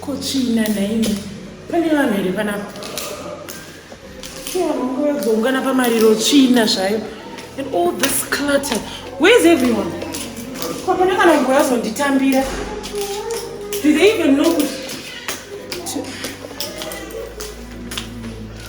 kutsvina nhaimi pane vanhu here panapa kuungana pamariro tsvina zvayo and all this clutter where is everyone kwapana kana mngu yazonditambira do they even know kuti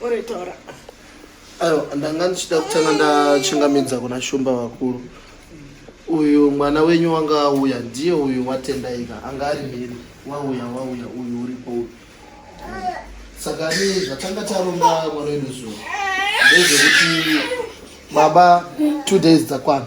Oretora. Ayo ndanga ndichida kutanga ndachingamidza kuna Shumba vakuru. Uyu mwana wenyu wanga auya ndiye uyu watendaika anga ari mhiri wauya wauya uyu uripo uyu. Saka ni zvatanga taromba mwana wedu zuva ndezvekuti baba two days dzakwana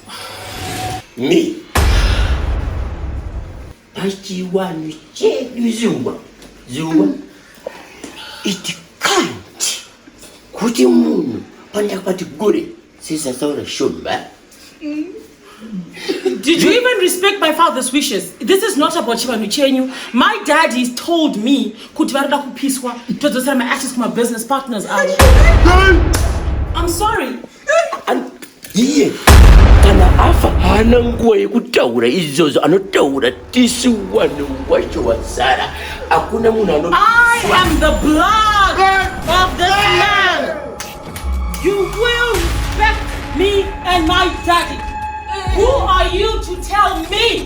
Me. Pachiwanhu chedu zuva zuva it can't kuti munhu pandakapati gore sezataura shumba Did you even respect my father's wishes? This is not about Chivanhu Chenyu. My daddy told me kuti varida kupiswa todzosera my ashes kuma business partners avo. I'm sorry. iye kana afa haana nguva yekutaura izvozvo anotaura tisi wani wacho wazara hakuna munhu ano Me and my daddy. Who are you to tell me?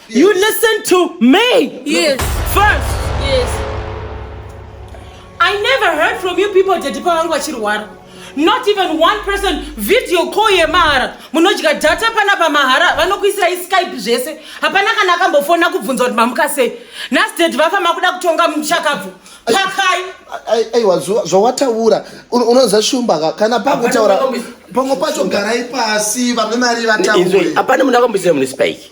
You listen to me. Yes. First. Yes. I never heard from you people daddy pavangu vachirwara. Not even one person video call yemahara. Munodya data pana pamahara vanokuisirai Skype zvese. Hapana kana akambofona kubvunza kuti mamuka sei. Nhasi daddy vafa makuda kutonga muchakabvu. Pakai. Aiwa zvawataura unoziva shumba ka kana pakutaura pamwe pacho garai pasi vamwe mari vataure. Hapana munhu akamboisira mune Spike.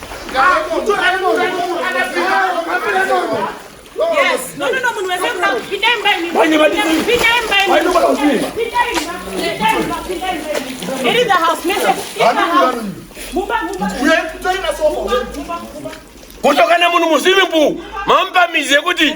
kutokana munhu muzivi mbu mamupamizi yekuti